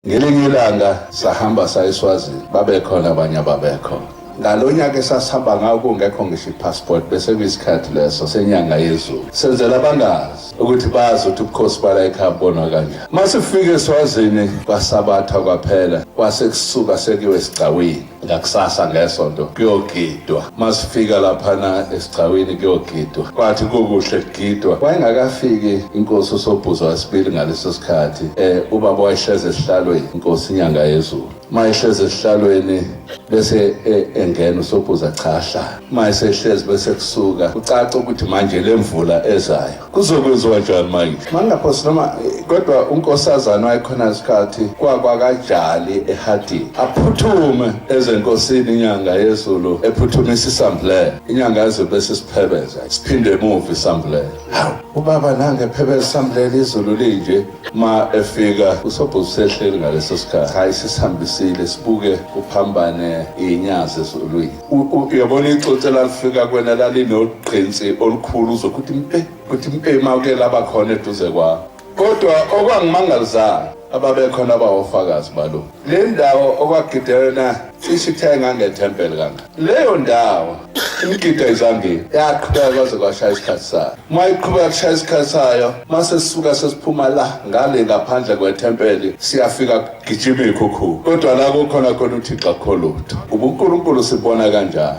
Ngelinye ilanga sahamba sayeswazini babekhona abanye ababekho ngalo nyaka esasihamba ngawo kungekho ngisho i-passport bese kuyisikhathi leso senyanga yezulu senzela abangazi ukuthi bazi ukuthi ubukhosi bala ekhaya bubonwa kanjani uma sifike eswazini kwasabatha kwaphela kwase kusuka sekiwe esigcawini ngakusasa ngesonto kuyogidwa masifika laphana esigcawini kuyogidwa kwathi kukuhle kugidwa wayengakafiki inkosi usobhuza wesibili ngaleso sikhathi eh ubaba wayehleze esihlalweni inkosi inyanga yezulu mayehleze esihlalweni bese e, engena usobhuza cha hla mayesehlezi bese kusuka ucaca ukuthi manje lemvula ezayo kuzokwenziwa njani manje mangaphosi noma kodwa unkosazana wayekhona isikhathi kwakwakajali ehadini aphuthume ezenkosini inyanga yezulu ephuthumisa isambulela inyanga yezulu bese siphebeza siphinde emuva isambulela hawu ubaba nange phebeza isambulela izulu linje ma efika usobhuti sehleli ngaleso sikhathi hayi sisihambisile sibuke kuphambane iy'nyazi ezulwini uyabona ixotshe lalifika kwena lalinogqinsi olukhulu uzokuthi mpe kuthi mpe mawuke laba khona eduze kwakho kodwa okwangimangalizayo ababekhona abawofakazi balo le ndawo okwagidelena cishe ithe ngangethempeli kanga leyo ndawo imigida izambili yaqhubeka kwaze kwashaya isikhathi sayo uma iqhubeka kushaya isikhathi sayo uma sesisuka sesiphuma la ngale ngaphandle kwethempeli siyafika Gijima ikhukhu kodwa la kukhona khona uthixo akho lutho ubunkulunkulu sibona kanjani